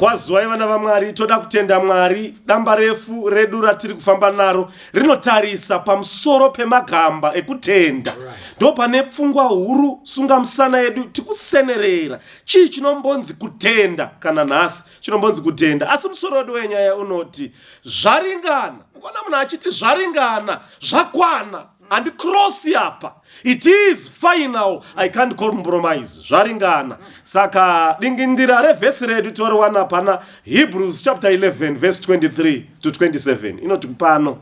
kwazuwai vana vamwari toda kutenda mwari damba refu redu ratiri kufamba naro rinotarisa pamusoro pemagamba ekutenda ndo pane pfungwa huru sunga musana yedu tikusenerera chii chinombonzi kutenda kana nhasi chinombonzi kutenda asi musoro wedu wenyaya unoti zvaringana ukona munhu achiti zvaringana zvakwana and cross apa it is final i can't compromise zvaringana saka dingindira revhesi redu toriwana pana hebrews chapter 11 verse 23 to 27 inoti pano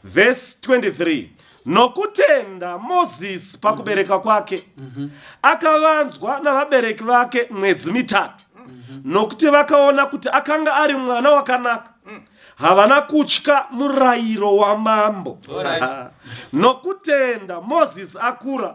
verse 23 nokutenda mozisi pakubereka kwake akavanzwa navabereki vake mwedzi mitatu nokuti vakaona kuti akanga ari mwana wakanaka havana kutya murayiro wamambo nokutenda moses akura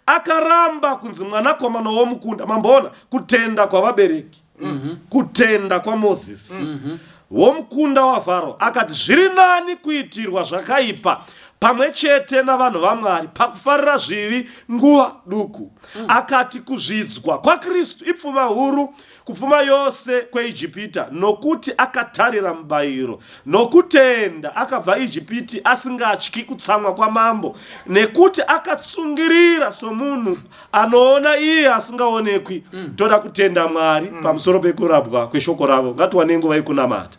akaramba kunzi mwanakomana womukunda mamboona kutenda kwavabereki mhm. kutenda kwamoses mhm. womukunda wafaro akati zviri nani kuitirwa zvakaipa pamwe chete navanhu vamwari pakufarira zvivi nguva duku mm. akati kuzvidzwa kwakristu ipfuma huru kupfuma yose kweijipita nokuti akatarira mubayiro nokutenda akabva ijipiti asingatyi kutsamwa kwamambo nekuti akatsungirira somunhu anoona iye asingaonekwi mm. toda kutenda mwari mm. pamusoro pekurabwa kweshoko ravo ngatiwane nguva yekunamata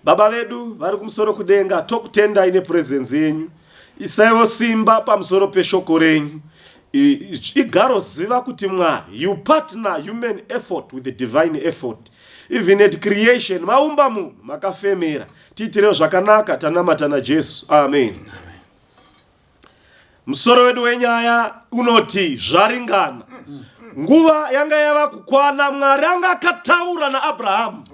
Baba vedu vari kumusoro kudenga, tokutendai nepurezenzi yenyu. Isaiwo simba pamusoro peshoko renyu. Igaro ziva kuti Mwari, you partner human effort with the divine effort. Even at creation, maumba munhu, makafemera. Tiitirewo zvakanaka, tanamata naJesu. Amen. Amen. Musoro wedu wenyaya unoti zvaringana. Nguva yanga yava kukwana, Mwari anga akataura naAbrahamu,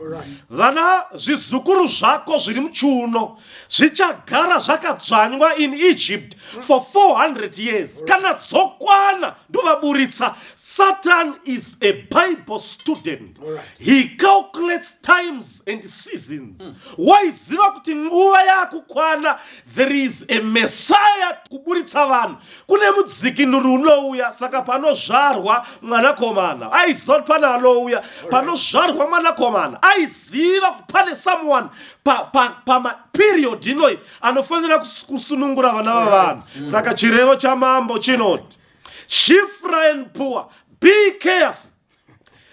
vana zvizukuru zvako zviri muchiuno zvichagara zvakadzvanywa in Egypt for 400 years. Kana dzokwana ndovaburitsa. Satan is a Bible student. He calculates times and seasons. Waiziva kuti nguva yakukwana There is a Messiah kuburitsa vanhu. Kune mudzikinuri unouya saka panozvarwa mwanakomana. Aiziva kuti pane anouya panozvarwa mwanakomana. Aiziva kuti pane someone pa, pa, pama period inoi anofanira kusunungura vana vavanhu. Mm. Saka chirevo chamambo chinoti Shifra and poor be careful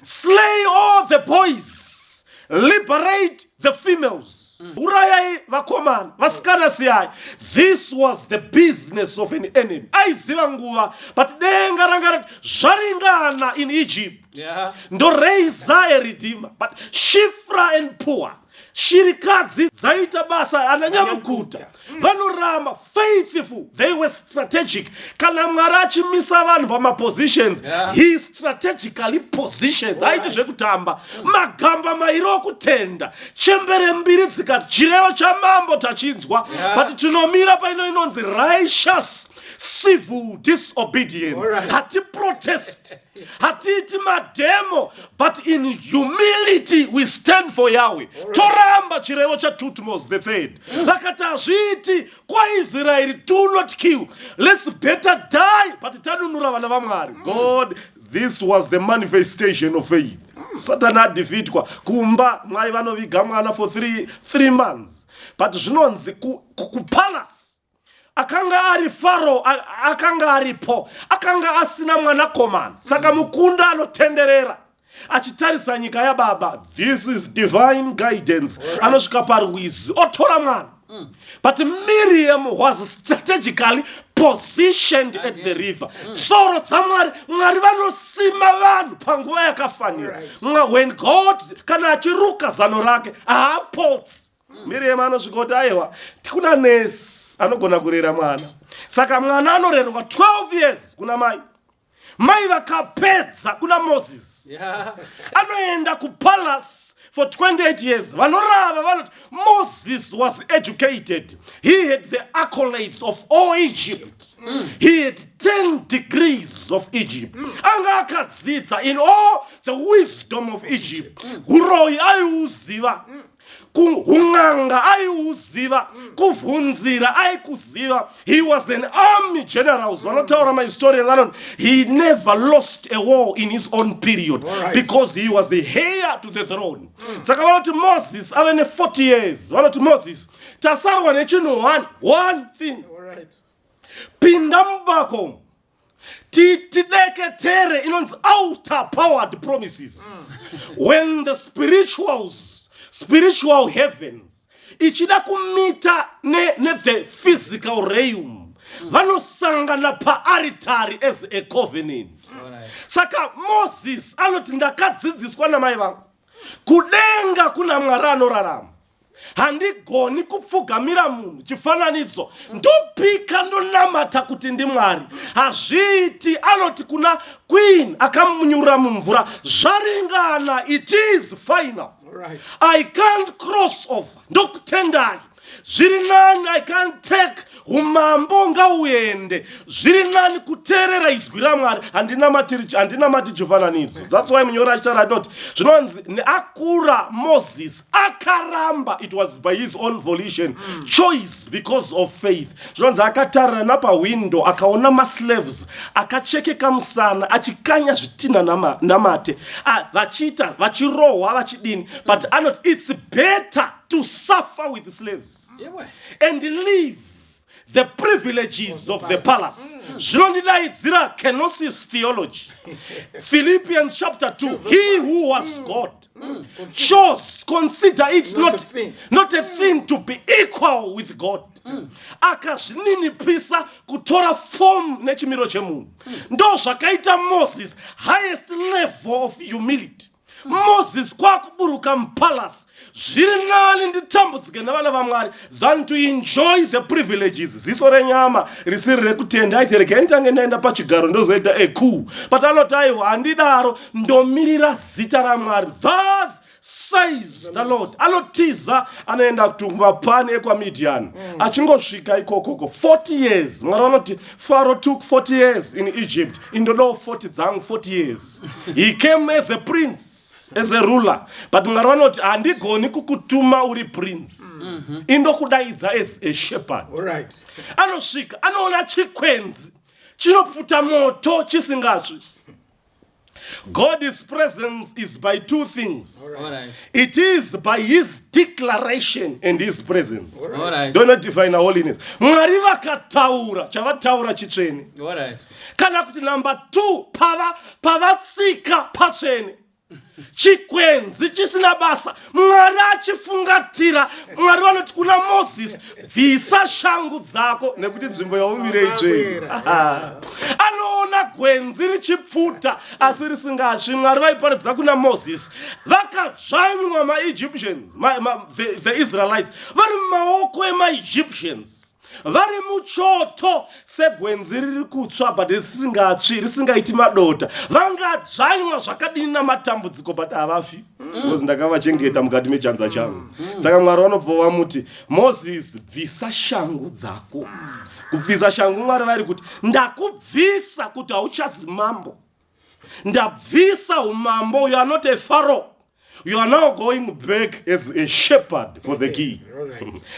slay all the boys liberate the females mm. urayai vakomana vasikana siyai this was the business of an enemy aiziva nguva but denga ranga rati zvaringana in egypt yeah. ndoreisa a redeemer but shifra and poor shirikadzi dzaita basa ana nyamukuta mm. vanoramba faithful they were strategic kana mwari achimisa vanhu pamapositions yeah. he strategically positions aite zvekutamba mm. magamba mairi okutenda chembere mbiri dzikati chirevo chamambo tachinzwa yeah. but tinomira paino inonzi righteous civil disobedience hatiprotesti right. hatiiti mademo but in humility we stand for yahwe toramba chirevo chatutmos the third vakati hazviiti kwaisraeri do not kill lets better die but tanunura vana vamwari god this was the manifestation of faith satani adhifitwa kumba mwai vanoviga mwana for three, three months but zvinonzi kupalace ku akanga ari faro akanga aripo akanga asina mwanakomana saka mukunda anotenderera achitarisa nyika yababa this is divine guidance anosvika parwizi otora mwana mm. but miriam was strategically positioned at the river mm. tsoro dzamwari mwari vanosima vanhu panguva yakafanira when god kana achiruka zano rake haapotsi mirema anosvika kuti aiwa tikuna nesi anogona kurera mwana saka mwana anorerwa 12 years kuna mai mai vakapedza kuna moses yeah. anoenda kupalace for 28 years vanorava vanoti moses was educated he had the accolades of all egypt mm. he had 10 degrees of egypt mm. anga akadzidza in all the wisdom of egypt mm. uroyi aiuziva mm. kun'anga aiuziva kuvhunzira aikuziva he was an army generals vanotaura mahistorian vanoti he never lost a war in his own period right. because he was a heir to the throne mm. saka mm. vanoti moses ave ne40 years vanoti moses tasarwa nechinhu one one thing right. pinda mubako tideketere inonzi outer powered promises mm. when the spirituals spiritual heavens ichida kumita ne, ne the physical realm vanosangana paaritari as a covenant saka moses anoti ndakadzidziswa namai vangu kudenga kuna mwari anorarama handigoni kupfugamira munhu chifananidzo ndopika ndonamata kuti ndimwari hazviiti anoti kuna queen akamunyurira mumvura zvaringana it is final i can't cross over ndokutendai zviri nani i can't take umambo ngauende zviri nani kuteerera izwi ramwari handinamati jefananidzo thats why munyori achitaura anoti zvinonzi neakura moses akaramba it was by his own volition mm. choice because of faith zvinonzi akatarira napahwindo akaona maslaves akachekeka musana achikanya zvitinha namate ah, vachiita vachirohwa vachidini but anoti its better to suffer with slaves and live the privileges of the palace mm. zvinondidaidzira kenosis theology philippians chapter 2 he who was mm. god mm. chose consider it not, not a thing to be equal with god akazvininipisa kutora fomu nechimiro chemunhu ndo zvakaita moses highest level of humility moses kwakuburuka mupalace zviri nani nditambudzike nevana vamwari than to enjoy the privileges ziso renyama risiri rekutenda aiti regai nditange ndaenda pachigaro ndozoita ecool but anoti aiwa handidaro ndomirira zita ramwari thus says the lord anotiza anoenda kutumapani ekwamidian mm. achingosvika ikokoko 40 years mwari vanoti faro took 40 years in egypt indodawo 40 dzangu 40 years he came as a prince as a ruler but mwari vanoti handigoni kukutuma uri prince mm -hmm. indokudaidza as a shepherd right. anosvika anoona chikwenzi chinopfuta moto chisingasvi god's presence is by two things All right. it is by his declaration and his presence All right. All right. don't not define holiness mwari vakataura chavataura chitsvene All right. kana kuti number two pava pavatsika patsvene chikwenzi chisina basa mwari achifungatira mwari vanoti kuna moses bvisa shangu dzako nekuti nzvimbo yaumire itsvei anoona gwenzi richipfuta asi risingasvi mwari vaiparidza kuna moses vakadzvanywa maegyptians ma, ma, the, the israelites vari mumaoko emaegyptians vari muchoto segwenzi riri kutsva but risingatsvi risingaiti madota vangadzvanywa zvakadini namatambudziko but havafi bcause ndakavachengeta mukati mechanza changu saka mwari vanobva vamuti moses bvisa shangu dzako kubvisa shangu mwari vari kuti ndakubvisa kuti hauchazi mambo ndabvisa umambo you are not a faro you are now going back as a shepherd for the king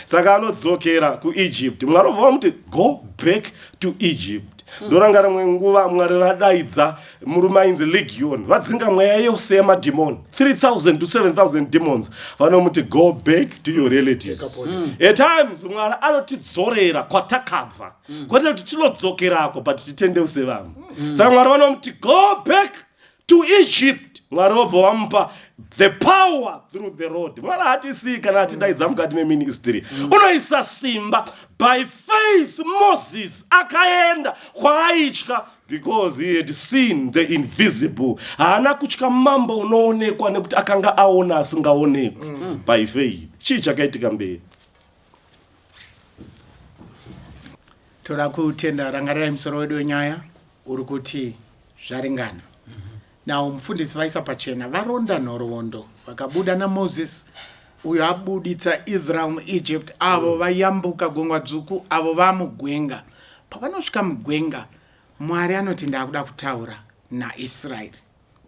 saka anodzokera kuegypt mwari obva vamuti go back to egypt hmm. ndoranga rimwe nguva mwari vadaidza murume ainzi legion vadzinga mweya yose yemadhimoni 3000 to 7000 demons vanomuti go back to your relatives hmm. at times mwari anotidzorera kwatakabva mm. kwete kuti tinodzokerako but titendeuse vamwe mm. saka mwari vanomuti go back to egypt mwari vobva vamupa the power through the road mwari hatisii kana atidaidza mm. mukati meministry mm. unoisa simba by faith moses akaenda kwaaitya because he had seen the invisible haana kutya mambo unoonekwa nekuti akanga aona asingaonekwi mm. by faith chii chakaitika mberi toda kutenda rangarirai musoro wedu wenyaya uri kuti zvaringana mm -hmm. now mufundisi vaisa pachena varonda nhoroondo vakabuda namoses uyo abuditsa israel muegypt avo mm. vayambuka gungwa dzvuku avo vamugwenga pavanosvika mugwenga mwari anoti ndaakuda kutaura naisraeri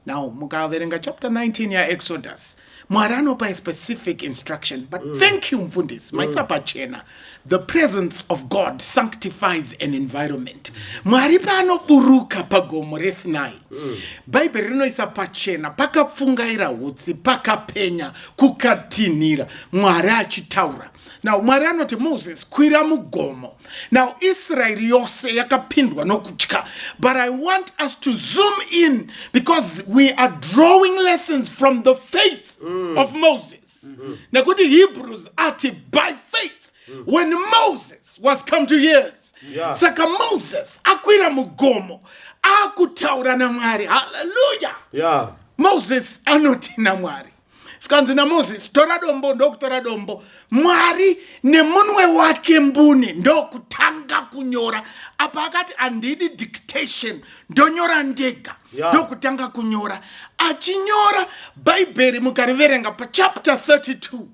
now mukaverenga chapter 19 yaexodus mwari anopa a specific instruction but mm. thank you mfundisi mm. maisa pachena the presence of god sanctifies an environment mwari paanoburuka pagomo resinai mm. bhaibheri rinoisa pachena pakapfungaira utsi pakapenya kukatinhira mwari achitaura now mwari anoti moses kwira mugomo now israeri yose yakapindwa nokutya but i want us to zoom in because we are drawing lessons from the faith mm. of moses mm -hmm. nekuti hebrews ati by faith mm. when moses was come to years yeah. saka moses akwira mugomo akutaura namwari haleluya yeah. moses anoti namwari zvikanzi namozisi tora dombo ndokutora dombo mwari nemunwe wake mbune ndokutanga kunyora apa akati handidi dictation ndonyora ndega ndokutanga yeah. kunyora achinyora bhaibheri mukariverenga pachapter 32 mm -hmm.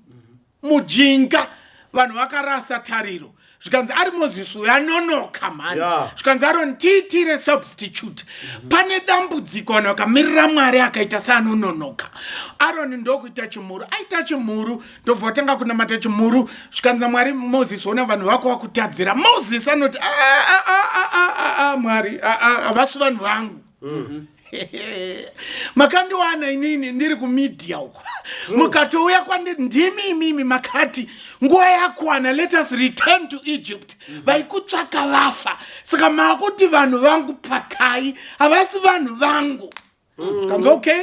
mujinga vanhu vakarasa tariro zvikanzi ari moses uyo anonoka mhani zvikanzi yeah. aroni tiitire substitute mm -hmm. pane dambudziko vanhu vakamirira mwari akaita seanononoka aroni ndokuita chimhuru aita chimhuru ndobva vatanga kunamata chimhuru zvikanzi mwari moses ona vanhu vako vakutadzira moses anoti ah, ah, ah, mwari havasi vanhu vangu Mm. makandiwana inini ndiri kumedia uko mukatouya kwandiri ndimi imimi makati nguva yakwana let us return to egypt mm-hmm. vaikutsvaka vafa saka maakuti vanhu vangu pakai havasi vanhu vangu mm. okay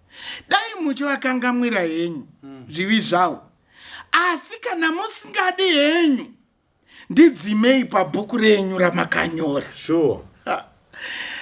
dai muchivakangamwira henyu hmm. zvivi zvavo asi kana musingadi henyu ndidzimei pabhuku renyu ramakanyora sure.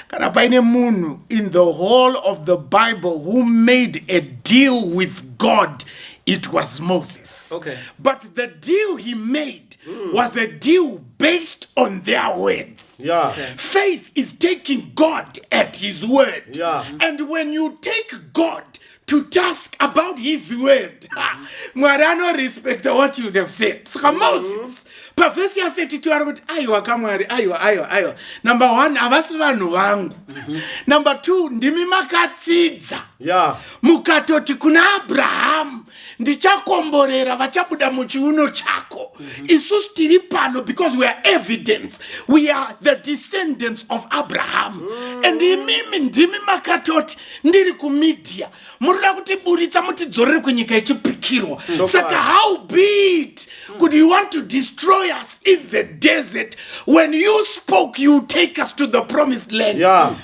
kana paine munhu in the whole of the bible who made a deal with god it was moses okay. but the deal he made mm. was a deal based on their words Yeah. Okay. Faith is taking God at His word. Yeah. And when you take God to task about His word, mm-hmm. Mwari ano respect what you have said. Saka mm-hmm. Moses, pa verse ya 32 ari kuti aiwa kamwari aiwa aiwa aiwa number one havasi vanhu vangu mm-hmm. number two ndimi makatsidza yeah. mukatoti kuna abrahamu ndichakomborera vachabuda muchiuno chako mm -hmm. isusu tiri pano because weare evidence we are the descendants of abraham mm. and imimi ndimi makatoti ndiri kumedia munoda kutiburitsa mutidzorere kunyika ichipikirwa mm. saka how beat mm. could you want to destroy us in the desert when you spoke you take us to the promised land yeah.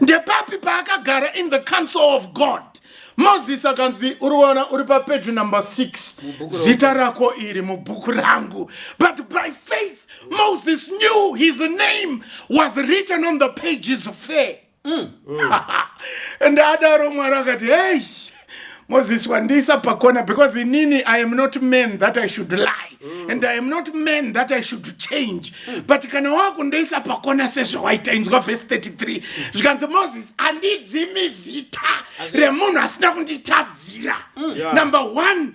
ndepapi paakagara in the council of god moses akanzi uriona uri papeji number 6 zita rako iri mubhuku rangu but by faith moses knew his name was written on the pages fair mm. mm. and adaro mwari akati hei Moses Wandisa Pakona, because in Nini, I am not men that I should lie. Mm. And I am not men that I should change. Mm. But kana wakundoisa pakona sezvawaita inzwa verse 33 zvikanzi moses andidzimi zita remunhu asina kunditadzira mm. yeah. number one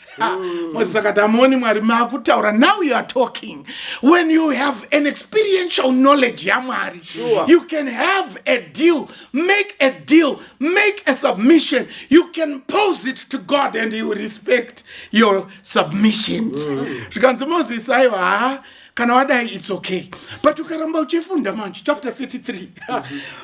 Mm. mwedzi saka tamoni mwari makutaura now you are talking when you have an experiential knowledge yamwari sure. you can have a deal make a deal make a submission you can pose it to god and you respect your submissions mm. zvikanzi mm. mozisi aiwa kana wadai its okay but ukaramba uchifunda manje chapter 33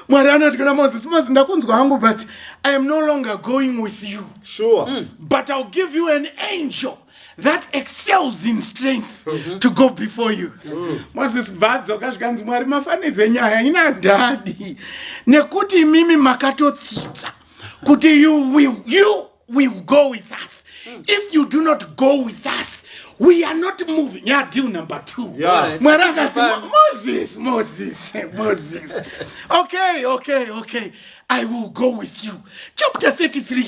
mwari anoti kuna moses moses ndakunzwa hangu but i am no longer going with you sure mm. but ill give you an angel that excels in strength mm -hmm. to go before you mm. moses bvadzo kazvikanzi mwari mafaneze nyaya ina dhadi nekuti imimi makatotsitsa kuti you will you will go with us mm. if you do not go with us we are not moving ya deal number two yeah. mwari akati moses moses moses okay okay okay i will go with you chapter 33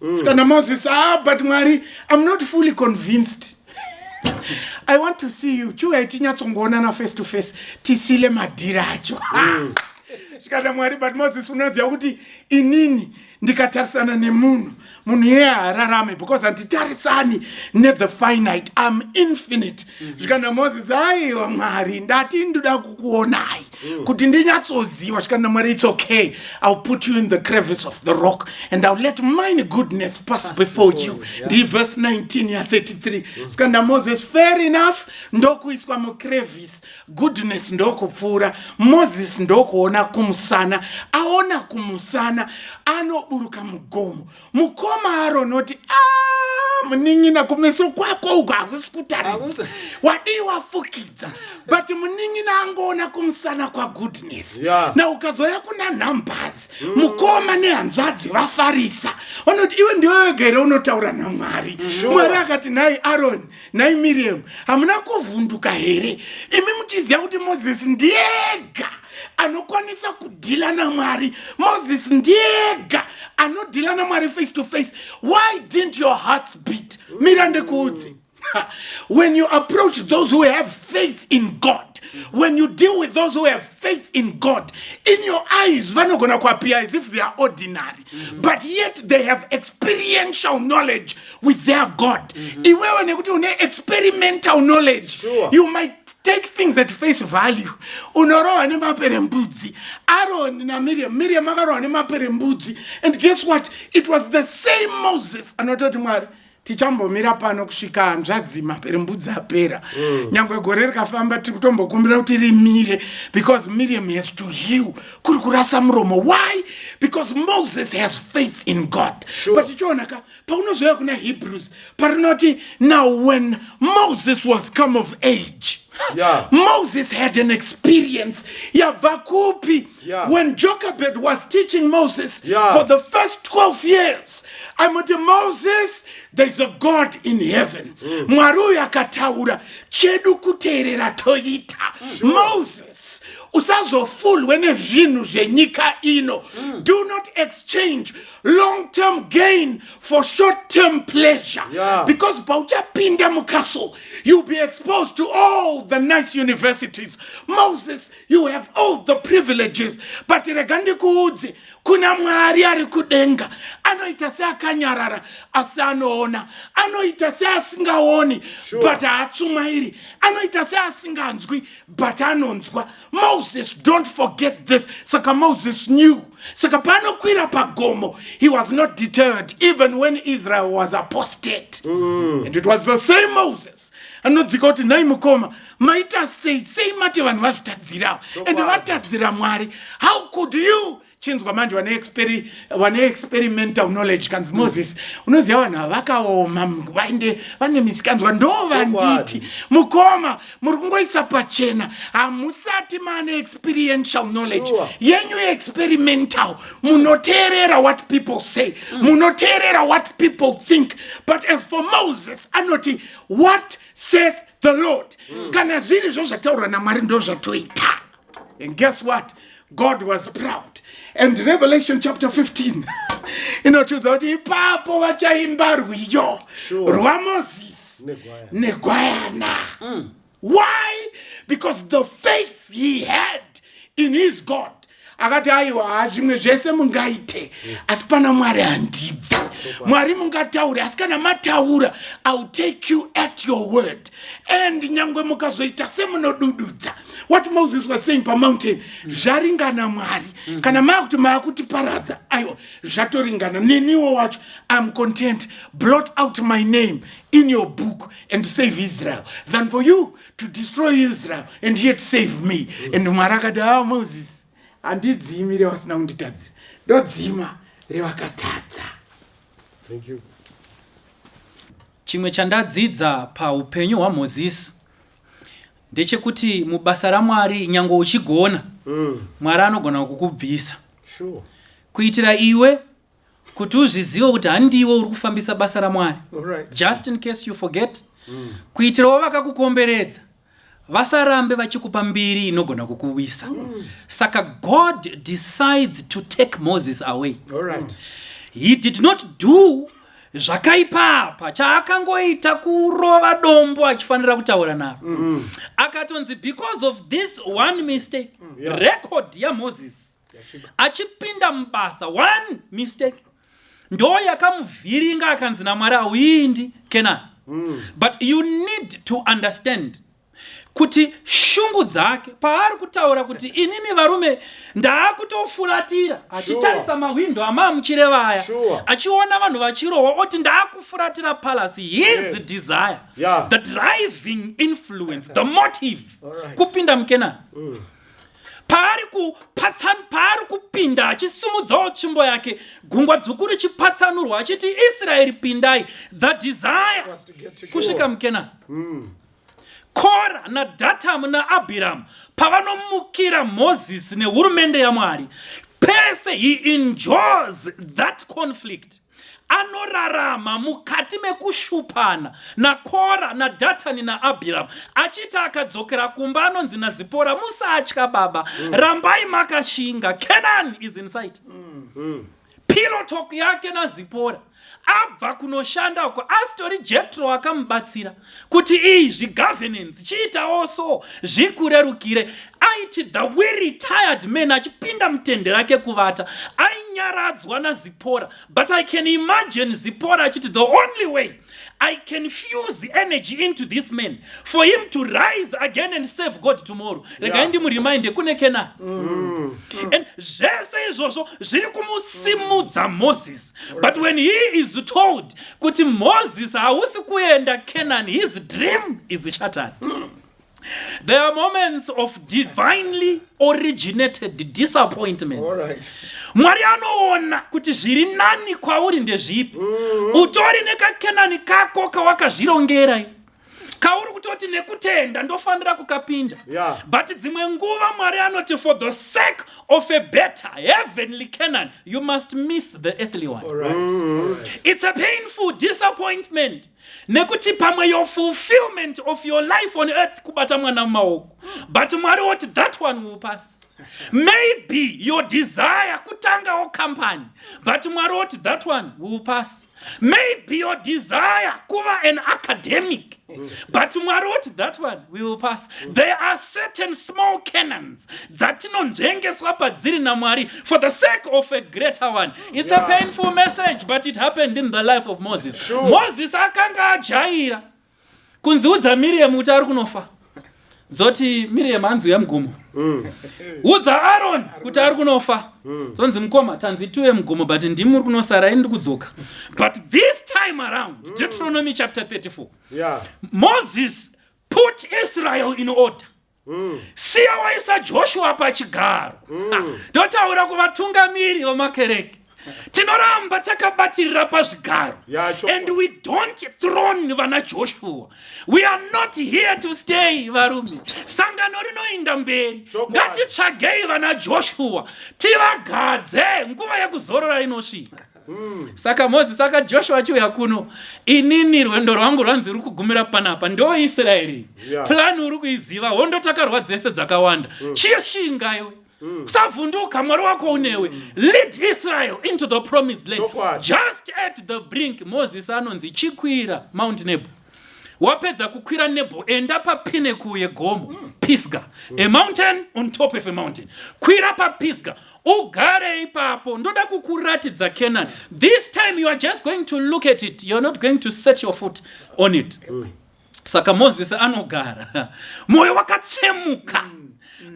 mm. kana moses ah but mwari i'm not fully convinced i want to see you chiuya itinyatsongoonana face to face tisile madhiri acho mm. zvikana mwari but moses unoziva kuti inini mm. ndikatarisana nemunhu munhu iye haararame because handitarisani nethe finite am infinite mhm. zvikanna mm -hmm. moses aiwa mwari ndati ndoda kukuonai mm. kuti ndinyatsoziva zvikanna mwari its okay ill put you in the crevice of the rock and ill let mine goodness pass, pass before, before you yeah. ndi verse 19 ya 33 zvikanna mm. moses fair enough ndokuiswa mucrevice goodness ndokupfuura moses ndokuona kumusana aona kumusana anoburuka mugomo mukoma aronoti ah, munin'ina kumeso kwako uko hakusi kutaridza wadii wafukidza but munin'ina angoona kumusana kwagoodness yeah. na ukazoya kuna numbers mm. mukoma nehanzvadzi vafarisa vanoti iwe ndiwewegere unotaura namwari mm. mwari akati nhai aroni nhai miriam hamuna kuvhunduka here imi muchiziva kuti mozisi ndiyega anokwanisa kudhila namwari mozisi ndiyega anodhila namwari face to face why didn't your hearts beat mira ndikuudze when you approach those who have faith in god when you deal with those who have faith in god in your eyes vanogona kuappear as if they are ordinary Mm-hmm. but yet they have experiential knowledge with their god mm-hmm. iwewe nekuti une experimental knowledge you might take things at face value unorohwa nemapere mbudzi aroni namiriam miriam akarohwa nemapere mbudzi and guess what it was the same moses anoita kuti mwari tichambomira pano kusvika hanzvadzi maperembudzi apera mm. nyange gore rikafamba tiri kutombokumbira kuti rimire because miriam has to heal kuri kurasa muromo why because moses has faith in god sure. but ichionaka paunozouya kuna hebrews parinoti now when moses was come of age yeah. moses had an experience yabva kupi Yeah. When Jochebed was teaching Moses yeah. for the first 12 years, I'm with Moses, there's a God in heaven. Mm. Mwari uyu akataura chedu kuteerera toita. Sure. Moses usazofulwe nezvinhu zvenyika ino. Mm. Do not exchange long term gain for short term pleasure yeah. because pauchapinda mucastle you'll be exposed to all the nice universities moses you have all the privileges but rega ndikuudze kuna mwari ari kudenga anoita seakanyarara asi anoona anoita seasingaoni sure. but haatsumairi anoita seasinganzwi but anonzwa moses don't forget this saka moses knew saka paanokwira pagomo he was not deterred even when israel was apostate mm. and it was the same moses anodzika kuti nhai mukoma maita sei sei mati vanhu vazvitadzirawo ende vatadzira mwari how could you chinzwa manje vane experimental knowledge kanzi mm. moses unoziva vanhu ava vakaoma vainde vane misikanzwa ndo vanditi mukoma muri kungoisa pachena hamusati maane experiential knowledge yenyu experimental munoteerera what people say mm. munoteerera what people think but as for moses anoti what saith the lord mm. kana zviri zvo zvataurwa namwari ndo zvatoita and guess what god was proud and revelation chapter 15 inotiudza kuti ipapo vachaimba rwiyo sure. rwamozisi negwayana mm. why because the faith he had in his god akati aiwa haa zvimwe zvese mungaite asi pana mwari handibvi mwari mungataure asi kana mataura iwill take you at your word and nyange mukazoita semunodududza what moses was saying pamountain zvaringana mwari mhm. kana maakuti maakutiparadza aiwa zvatoringana neniwo wacho iam content blot out my name in your book and save israel than for you to destroy israel and yet save me mm. and mwari akati a ah, moses handidzimi revasina kunditadzira ndodzima revakatadza thank you chimwe chandadzidza paupenyu hwamozisi ndechekuti mubasa ramwari nyange uchigona mm. mwari anogona kukubvisa sure. kuitira iwe kuti uzvizive kuti handiwe uri kufambisa basa ramwari just in case you forget mm. kuitirawo vakakukomberedza vasarambe vachikupa mbiri inogona kukuwisa mm. saka god decides to take moses away right. he did not do zvakaipa apa chaakangoita kurova dombo achifanira kutaura naro mm. akatonzi because of this one mistake mm. yeah. record yamoses achipinda mubasa one mistake ndo yakamuvhiringa akanzi namwari auindi kenani mm. but you need to understand kuti shungu dzake paari kutaura kuti inini varume ndaakutofuratira achitarisa sure. mahwindo amaamuchire vaya sure. achiona vanhu vachirohwa oti ndaakufuratira palasi his yes. desire yeah. the driving influence the motive right. kupinda mukenani mm. paari kupatsan paari kupinda achisumudzawo tsvimbo yake gungwa dzvuku richipatsanurwa achiti israeri pindai the desire kusvika mukenani mm. kora nadhatamu naabhiramu pavanomukira mozisi nehurumende yamwari pese he enjoys that conflict anorarama mukati mekushupana nakora nadatani naabhiramu achiti akadzokera kumba anonzi nazipora musatya baba mm. rambai makashinga canaan is insight mm. mm. pilotok yake nazipora abva kunoshanda uko asitori jetro akamubatsira kuti iyi zvigovernance chiitawo so zvikurerukire aiti the we retired man achipinda mutende rake kuvata ainyaradzwa nazipora but i can imagine zipora achiti the only way i can fuse the energy into this man for him to rise again and save god tomorrow regai yeah. ndimuriminde kune kena mm. and zvese izvozvo zviri kumusimudza moses but when he is told kuti moses hausi kuenda canaan his dream is shattered mm. There are moments of divinely originated disappointments. Right. Mwari anoona kuti zviri nani kwauri ndezvipi. Mm -hmm. Utori nekakenani kako kawakazvirongera. kauri kutoti nekutenda ndofanira kukapinda yeah. but dzimwe nguva mwari anoti for the sake of a better heavenly canon you must miss the earthly one All right. Mm. All right. it's a painful disappointment nekuti pamwe your fulfillment of your life on earth kubata mwana mumaoko but mwari woti that one will pass maybe your desire kutangawo company but mwari woti that one will pass maybe your desire kuva an academic but mwari woti that one we will pass there are certain small canons dzatinonzvengeswa padziri namwari for the sake of a greater one it's yeah. a painful message but it happened in the life of moses sure. moses akanga ajaira kunziudza miriam kuti ari kunofa dzoti miriam hanzi uya mugomo mm. udza aron kuti ari kunofa mm. dzonzi mukoma tanzi tiuye mugomo but ndimi uri kunosara ini ndikudzoka but this time around mm. deuteronomy chapter 34 yeah. moses put israel in order mm. siya waisa joshua pachigaro mm. totaura kuvatungamiri vemakereke tinoramba takabatirira pazvigaro and we don't throne vana joshua we are not here to stay varume sangano rinoinda mberi ngatitsvagei vana joshua tivagadze nguva yekuzorora inosvika Hmm. Saka Moses, saka Joshua achiuya kuno, inini rwendo rwangu rwanzi ruri kugumira panapa, ndo Israeri. Yeah. Plan uri kuiziva, hondo takarwa dzese dzakawanda. Mm. Chie shinga iwe. Mm. Kusavhunduka mwari wako unewe. Mm. Lead Israel into the promised land. Just at the brink, Moses anonzi chikwira Mount Nebo. wapedza kukwira nebo enda papinnacle yegomo mm. pisga mm. a mountain on top of a mountain kwira papisga ugare ipapo ndoda kukuratidza canaan this time you are just going to look at it you're not going to set your foot on it mm. saka moses anogara mwoyo wakatsemuka mm.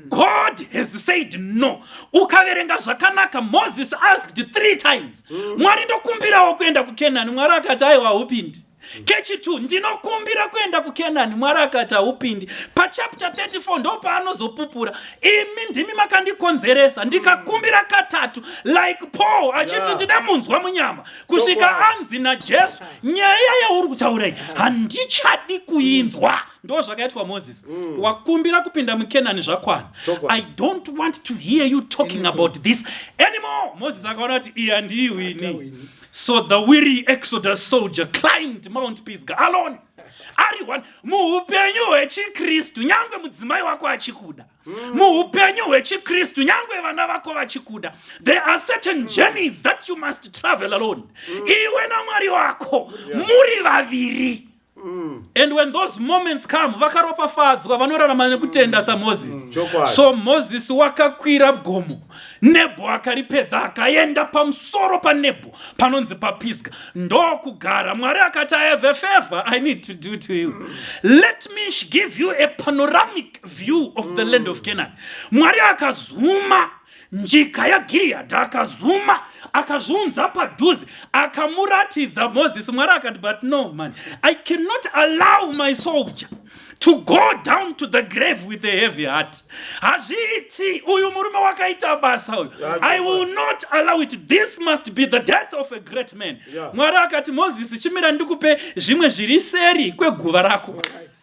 God has said no. Ukaverenga zvakanaka Moses asked three times. Mm. Mwari ndokumbirawo kuenda kuKenani. Mwari akati aiwa upindi. kechitwo ndinokumbira kuenda kukenani mwari akati haupindi pachapter 34 ndo paanozopupura imi ndimi makandikonzeresa ndikakumbira katatu like paul achiti ndine munzwa munyama kusvika anzi najesu nyaya yauri kutaura iyi handichadi kuinzwa ndo zvakaitwa moses mm. wakumbira kupinda mukenani zvakwana i don't want to hear you talking about this anymore moses akaona kuti iya ndiiwini So the weary Exodus soldier climbed Mount Pisgah alone. Ari one muupenyu hwechiKristu nyangwe mudzimai wako achikuda. Mm. Muupenyu hwechiKristu nyangwe vana vako vachikuda. There are certain mm. journeys that you must travel alone. Mm. Iwe naMwari wako muri vaviri. Mm. and when those moments come vakaropafadzwa vanorarama nekutenda mm. samoses mm. so moses wakakwira gomo nebho akaripedza akaenda pamusoro panebho panonzi papisga ndokugara mwari akati i have a favor i need to do to you mm. let me give you a panoramic view of the mm. land of mm. canaan mwari akazuma Njika yaGiriyadhi akazuma, akazviunza padhuze, akamuratidza Mozisi. Mwari akati, but no man, I cannot allow my soldier to go down to the grave with a heavy heart. Hazviiti, uyu murume wakaita basa uyu. I will not allow it. This must be the death of a great man. Mwari akati, Mozisi, chimira ndikupe zvimwe zviri seri kweguva rako. All right.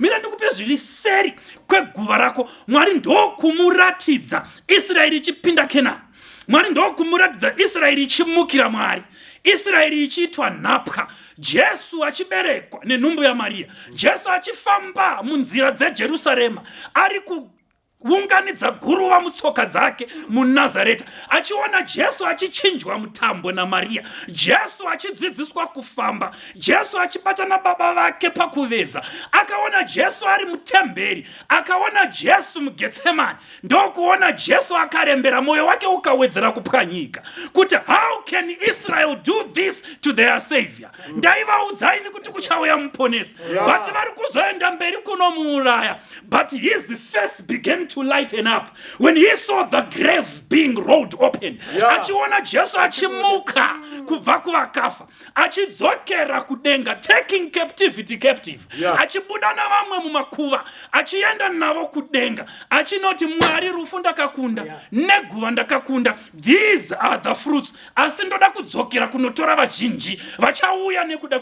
mira ndikupe zviri seri kweguva rako mwari ndokumuratidza israeri ichipinda kenani mwari ndokumuratidza israeri ichimukira mwari israeri ichiitwa nhapwa jesu achiberekwa nenhumbu yamariya jesu achifamba munzira dzejerusarema ari ku kuunganidza guruva mutsoka dzake munazareta achiona jesu achichinjwa mutambo namariya jesu achidzidziswa kufamba jesu achibatana baba vake pakuveza akaona jesu ari mutemberi akaona jesu mugetsemani ndokuona jesu akarembera mwoyo wake ukawedzera kupwanyika kuti how can israel do this to their savior ndaivaudzaini kuti kuchauya muponesi but vari kuzoenda mberi kunomuuraya But his face began to lighten up when he saw the grave being rolled open. Achiona Jesu achimuka kubva kuvakafa achidzokera kudenga taking captivity captive achibuda navamwe mumakuva achienda navo kudenga achinoti mwari rufu ndakakunda neguva ndakakunda these are the fruits asi ndoda kudzokera kunotora vazhinji vachauya nekuda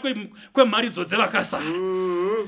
kwemharidzo dzevakasara mm -hmm.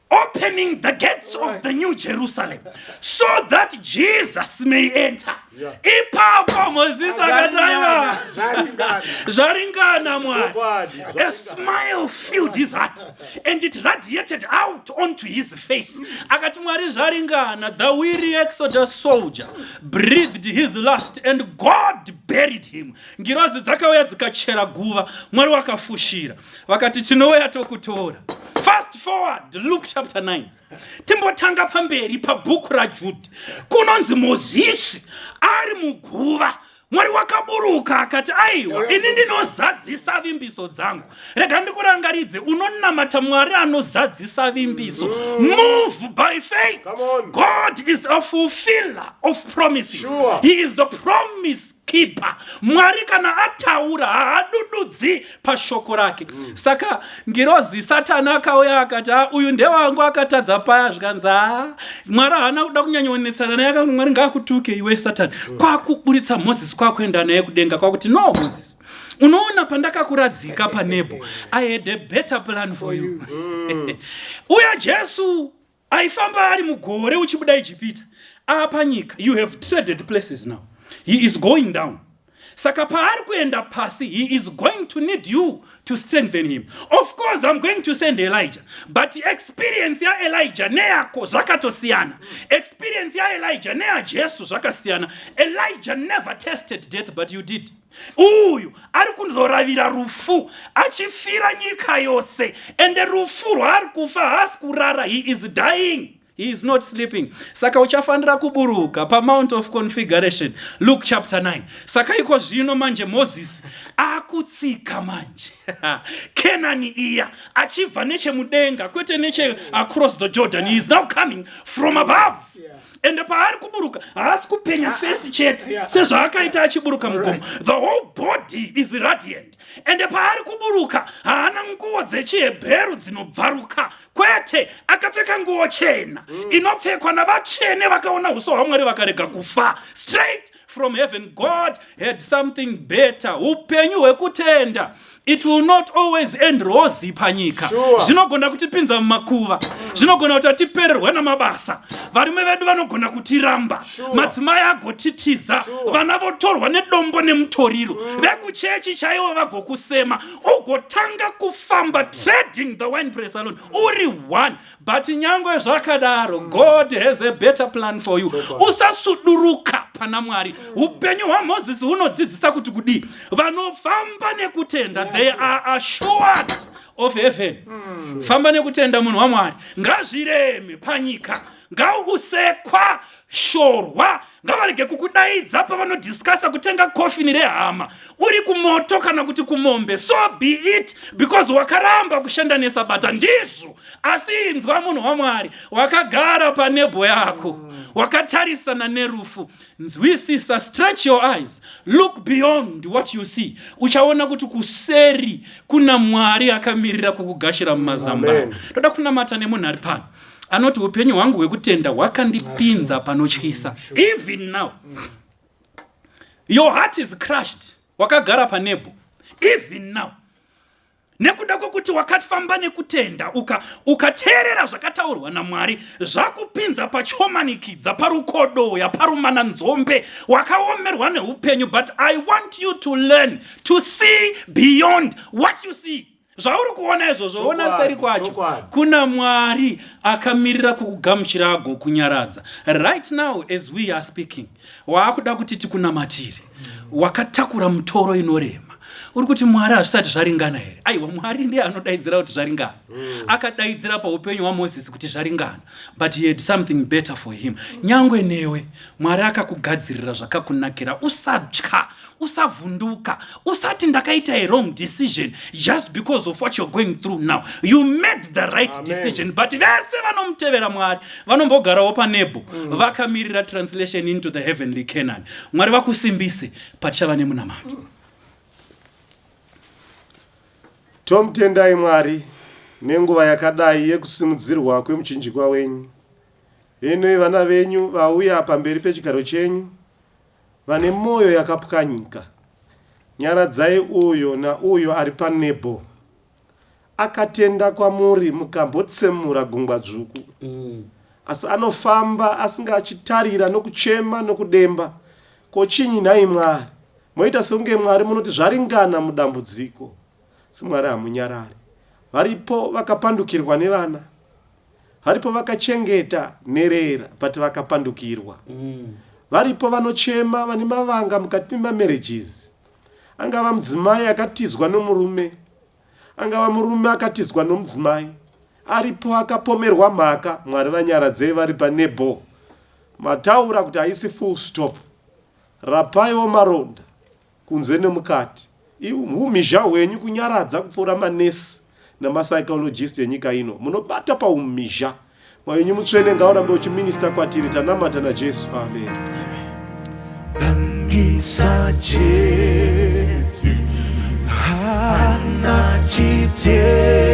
opening the gates of the new jerusalem so that jesus may enter ipapo mozisi akataiwa zvaringana mwari a smile filled his heart and it radiated out onto his face akati mwari zvaringana the weary exodus soldier breathed his last and god buried him ngirozi dzakauya dzikachera guva mwari wakafushira vakati tinouya tokutora fast forward luke chapter 9 timbotanga pamberi pabhuku rajudhi kunonzi mozisi ari muguva mwari wakaburuka akati aiwa ini ndinozadzisa vimbiso dzangu rega ndikurangaridze unonamata mwari anozadzisa vimbiso mm. move by faith god is a fulfiller of promises he is a promise keeper mwari kana ataura haadududzi pashoko rake mm. saka ngirozi satani akauya akati a ah, uyu ndewangu akatadza paya zvikanzi a ah, mwari haana kuda kunyanyaonetsana naye akanzi mwari ngaakutuke iwe satani mm. kwakuburitsa moses kwakuenda naye kudenga kwakuti no moses unoona pandakakuradzika panebo i had a better plan for you mm. uya jesu aifamba ari mugore uchibuda ijipita apa nyika you have traded places now he is going down saka paari kuenda pasi he is going to need you to strengthen him of course im going to send elijah but experience yaelijah neyako zvakatosiyana experience yaelijah neyajesu zvakasiyana elijah never tested death but you did uyu ari kuzoravira rufu achifira nyika yose ende rufu rwaari kufa haasi kurara he is dying he is not sleeping saka uchafanira kuburuka pamount of configuration luke chapter 9 saka iko zvino manje mozisi akutsika manje kenani iya achibva nechemudenga kwete neche across the jordan he is now coming from above yeah. ende paari kuburuka haasi kupenya ah, ah, fesi chete ah, sezvaakaita achiburuka mugomo the whole body is radiant ende paari kuburuka haana nguo dzechihebheru dzinobvaruka kwete akapfeka nguo chena mm. inopfekwa navatsvene vakaona uso hwamwari vakarega kufa straight from heaven god had something better upenyu hwekutenda it will not always end rozi panyika zvinogona sure. kutipinza mumakuva zvinogona kuti atipererwa namabasa varume vedu vanogona kutiramba sure. madzimai agotitiza sure. vana votorwa nedombo nemutoriro mm. vekuchechi chaivo vagokusema ugotanga kufamba trading the wine press alone uri one but nyangwe zvakadaro mm. god has a better plan for you usasuduruka pana mwari mm. upenyu hwamozisi hunodzidzisa kuti kudii vanofamba nekutenda they are assured of heaven mm. famba nekutenda munhu wamwari ngazvireme panyika ngausekwa shorwa ngavarege kukudaidza pavanodiscasa kutenga kofini rehama uri kumoto kana kuti kumombe so be it because wakaramba kushanda nesabata ndizvo asi inzwa munhu wamwari wakagara panebho yako wakatarisana nerufu nzwisisa stretch your eyes look beyond what you see uchaona kuti kuseri kuna mwari akamirira kukugashira mumazambano toda kunamata nemunhu ari pano anoti upenyu hwangu hwekutenda hwakandipinza panotyisa even now your heart is crushed wakagara panebo even now nekuda kwekuti wakafamba nekutenda ukateerera uka zvakataurwa namwari zvakupinza pachomanikidza parukodoya parumana nzombe wakaomerwa neupenyu but i want you to learn to see beyond what you see zvauri kuona izvozvo ona seri kwacho kuna mwari akamirira kukugamuchira ago kunyaradza right now as we are speaking waakuda kuti tikunamatiri wakatakura mutoro inorema uri kuti mwari hazvisati zvaringana here aiwa mwari ndiye anodaidzira kuti zvaringana mm. akadaidzira paupenyu hwamozisi kuti zvaringana but he had something better for him nyangwe newe mwari akakugadzirira zvakakunakira usatya usavhunduka usati ndakaita a wrong decision just because of what you're going through now you made the right Amen. decision but vese vanomutevera mwari vanombogarawo panebo mm. vakamirira translation into the heavenly canaan mwari vakusimbise patichava nemunamato mm. tomutendai mwari nenguva yakadai yekusimudzirwa kwemuchinjikwa wenyu henoi vana venyu vauya pamberi pechigaro chenyu Vane moyo yakapwanyika. Nyaradzai uyo nauyo ari panebo. Akatenda kwamuri mukambotsemura gungwa dzvuku. Asi anofamba asinga achitarira nokuchema nokudemba. Ko chinyi nhai Mwari? Moita sekunge Mwari munoti zvaringana mudambudziko. Asi Mwari hamunyarari. Varipo vakapandukirwa nevana. Varipo vakachengeta nherera but vakapandukirwa. Mm. Varipo vanochema vane mavanga mukati memamarriages. Angava mudzimai akatizwa nomurume. Angava murume akatizwa nomudzimai. Aripo akapomerwa mhaka Mwari vanyaradzei vari panebo. Mataura kuti haisi full stop. Rapaiwo maronda Kunze nemukati. Ihumhizha hwenyu kunyaradza kupfuura manesi nemapsychologist enyika ino. Munobata pahumhizha. Mwoyo wenyu mutsvene ngaurambe uchiminista kwatiri. Tanamata naJesu. Amen. Bangisa Jesu. Hana chitema.